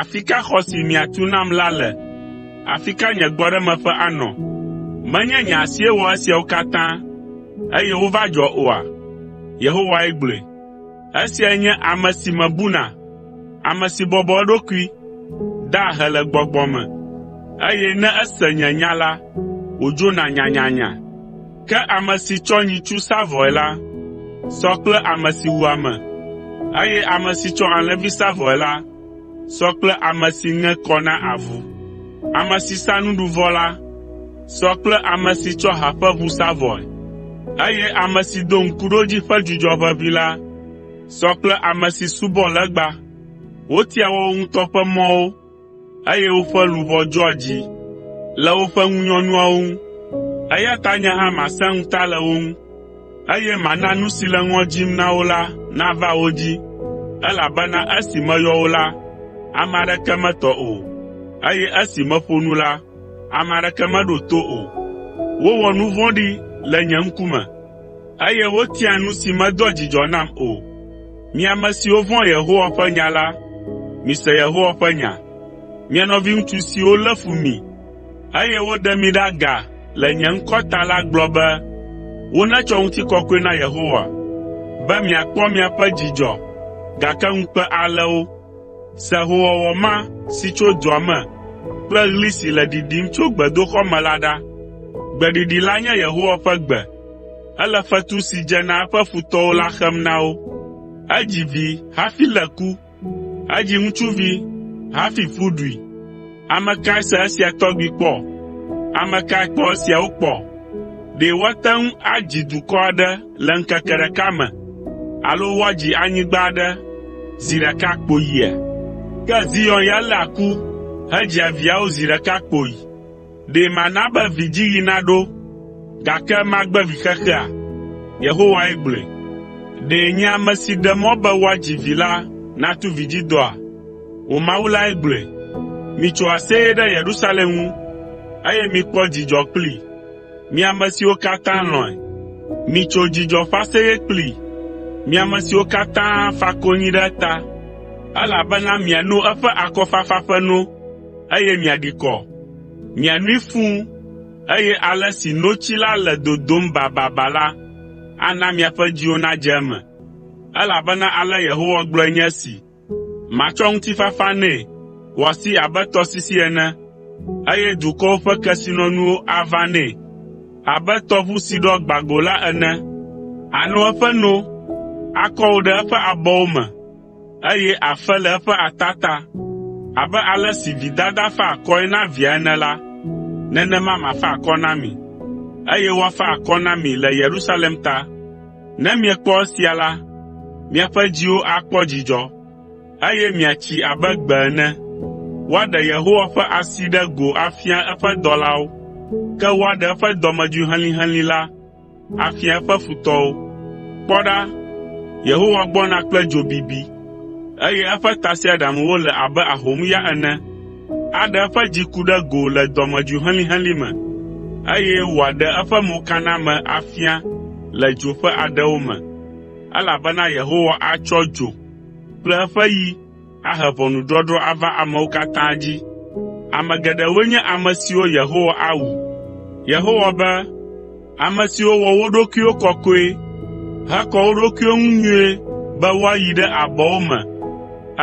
“Afi ka xɔ si miatu nam la le? Afi ka nye gbɔɖemeƒe anɔ? Menye nye asie wɔ esiawo katã, eye wova dzɔ oa?” Yehowae gblɔe. “Esiae nye ame si mebuna, ame si bɔbɔ eɖokui, daa ahe le gbɔgbɔ me, eye ne ese nye nya la, wòdzona nyanyanya. Ke ame si tsɔ nyitsu sa vɔe la, sɔ kple ame si wu ame, eye ame si tsɔ alẽvi sa vɔe la, sɔ kple ame si ŋe kɔ na avu. Ame si sa nuɖuvɔ la, sɔ kple ame si tsɔ ha ƒe ʋu sa vɔe, eye ame si do Ŋkuɖodzi ƒe dzudzɔ ʋeʋĩ la, sɔ kple ame si subɔ legba. Wotia woawo ŋutɔ ƒe mɔwo eye woƒe luʋɔ dzɔa dzi le woƒe ŋunyɔnuawo ŋu. Eya ta nye hã masẽ ŋuta le wo ŋu, eye mana nu si le ŋɔ dzim na wo la nava wo dzi, elabena esi meyɔ wo la, ame aɖeke metɔ o, eye esi meƒo nu la, ame aɖeke meɖo to o. Wowɔ nu vɔ̃ɖi le nye ŋkume. Eye wotia nu si medoa dzidzɔ nam o. Mi ame siwo vɔ̃a Yehowa ƒe nya la, mise Yehowa ƒe nya. Mi nɔviŋutsu siwo lé fu mi, eye woɖe mi ɖe aga le nye ŋkɔ ta la gblɔ be, “Wonetsɔ ŋutikɔkɔe na Yehowa.” Be miakpɔ miaƒe dzidzɔ, gake ŋukpe alé wo. Se hoowɔwɔ ma si tso dua me kple ɣli si le ɖiɖim tso gbedoxɔ me la ɖa. Gbeɖiɖi la nye Yehowa ƒe gbe. Ele fetu si dze na eƒe futɔwo la xem na wo. Edzi vi hafi lé ku. Edzi ŋutsuvi hafi ƒu ɖui. Ame kae se esia tɔgbi kpɔ? Ame kae kpɔ esiawo kpɔ? Ɖe woate ŋu adzi dukɔ aɖe le ŋkeke ɖeka me, alo woadzi anyigba aɖe zi ɖeka kpoyia? Ke Zion ya léa ku hedzia viawo zi ɖeka kpoyi. Ɖe mana be vidziɣi naɖo, gake magbe vixexea?” Yehowae gblɔe. “Ɖe nye ame si ɖe mɔ be woadzi vi la natu vidzidɔa?” wò Mawu lae gblɔe. “Mitso aseye ɖe Yerusalem ŋu, eye mikpɔ dzidzɔ kplii, mi ame siwo katã lɔ̃e. Mitso dzidzɔ ƒe aseye kplii, mi ame siwo katã fa konyi ɖe eta, elabena miano eƒe akɔfafa ƒe no, eye miaɖi kɔ. Mianoe fũu, eye ale si notsi la le dodom bababa la, ana miaƒe dziwo nadze eme.” Elabena ale Yehowa gblɔe nye esi. Matsɔ ŋutifafa nɛ wòasi abe tɔsisi ene, eye dukɔwo ƒe kesinɔnuwo aʋã nɛ abe tɔʋu si ɖɔ gbã go la ene. Àno eƒe no, akɔ wò ɖe eƒe abɔwo me, eye àfe le eƒe ata ta. Abe ale si vidada faa akɔe na via ene la, nenema mafa akɔ na mi, eye woafa akɔ na mi le Yerusalem ta. Ne miekpɔ esia la, miaƒe dziwo akpɔ dzidzɔ, eye miatsi abe gbe ene. Woaɖe Yehowa ƒe asi ɖe go afia eƒe dɔlawo, ke woaɖe eƒe dɔmedzoe helĩhelĩ la afia eƒe futɔwo. Kpɔ ɖa, Yehowa gbɔna kple dzo bibi, eye eƒe tasiaɖamwo le abe ahomya ene. aɖe eƒe dziku ɖe go le dɔmedzoe helĩhelĩ me, eye wòaɖe eƒe mokaname afia le dzo ƒe aɖewo me, elabena Yehowa atsɔ dzo kple eƒe yi ahe ʋɔnudɔdrɔ̃ ava amewo katã dzi. Ame geɖewoe nye ame siwo Yehowa awu. Yehowa be, Ame siwo wɔ wo ɖokuiwo kɔkɔe hekɔ wo ɖokuiwo ŋu nyuie be woayi ɖe abɔwo me,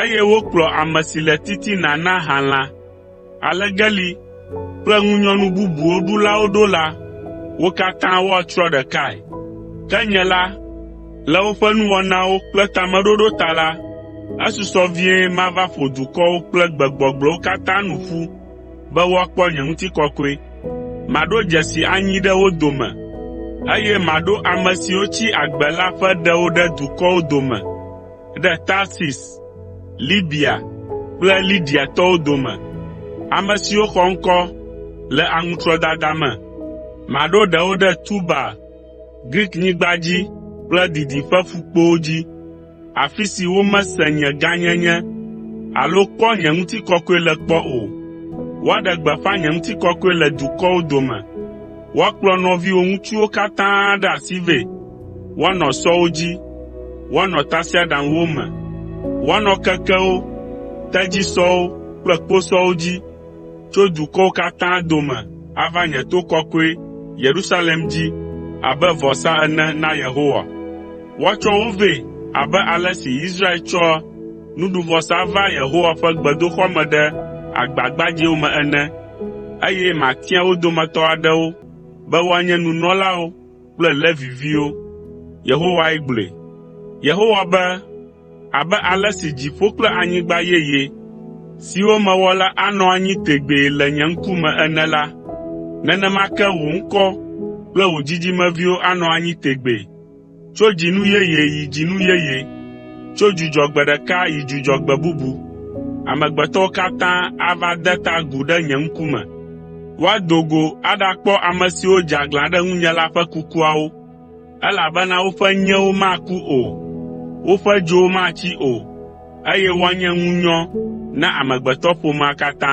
eye wokplɔ ame si le titina na halã, alegeli kple ŋunyɔnu bubuwo ɖulawo ɖo la, wo katã woatsrɔ̃ ɖekae. Ke nye la, le woƒe nuwɔnawo kple tameɖoɖo ta la, esusɔ vie mava ƒo dukɔwo kple gbegbɔgblɔwo katã nu ƒu be woakpɔ nye ŋutikɔkɔe. Maɖo dzesi anyi ɖe wo dome, eye maɖo ame siwo tsi agbe la ƒe ɖewo ɖe dukɔwo dome, ɖe Tarsis, Libya kple Lidiatɔwo dome, ame siwo xɔ ŋkɔ le aŋutrɔdada me. Maɖo ɖewo ɖe Tubal, Griknyigba dzi kple didiƒe ƒukpowo dzi. afi si womese nye gãnyenye alo kpɔ nye ŋutikɔkɔe le kpɔ o. Woaɖe gbeƒã nye ŋutikɔkɔe le dukɔwo dome. Woakplɔ nɔviwò ŋutsuwo katã ɖe asi vɛ. Woanɔ sɔwo dzi, woanɔ tasiaɖamwo me, woanɔ kekewo, tedzisɔwo kple kposɔwo dzi tso dukɔwo katã dome ava nye to kɔkɔe, Yerusalem dzi abe vɔsa ene na Yehowa. Woatsɔ wo vɛ abe ale si Israel tsɔa nuɖuvɔsa vaa Yehowa ƒe gbedoxɔ me ɖe agba gbadzɛwo me ene, eye matia wo dometɔ aɖewo be woanye nunɔlawo kple Levi viwo.” Yehowae gblɔe. Abe ale si dziƒo kple anyigba yeye, siwo mewɔ la anɔ anyi tegbee le nye ŋkume ene la, nenema ke wò ŋkɔ kple wò dzidzimeviwo anɔ anyi tegbee, tso dzinu yeye yi dzinu yeye, tso dzudzɔgbe ɖeka yi dzudzɔgbe bubu. Amegbetɔwo katã ava ade ta agu ɖe nye ŋkume. Woado go aɖakpɔ ame siwo dze aglã ɖe ŋunye la ƒe kukuawo. Elabena woƒe nyewo maku o, woƒe dzowo matsi o, eye woanye ŋunyɔ na amegbetɔƒomea katã.”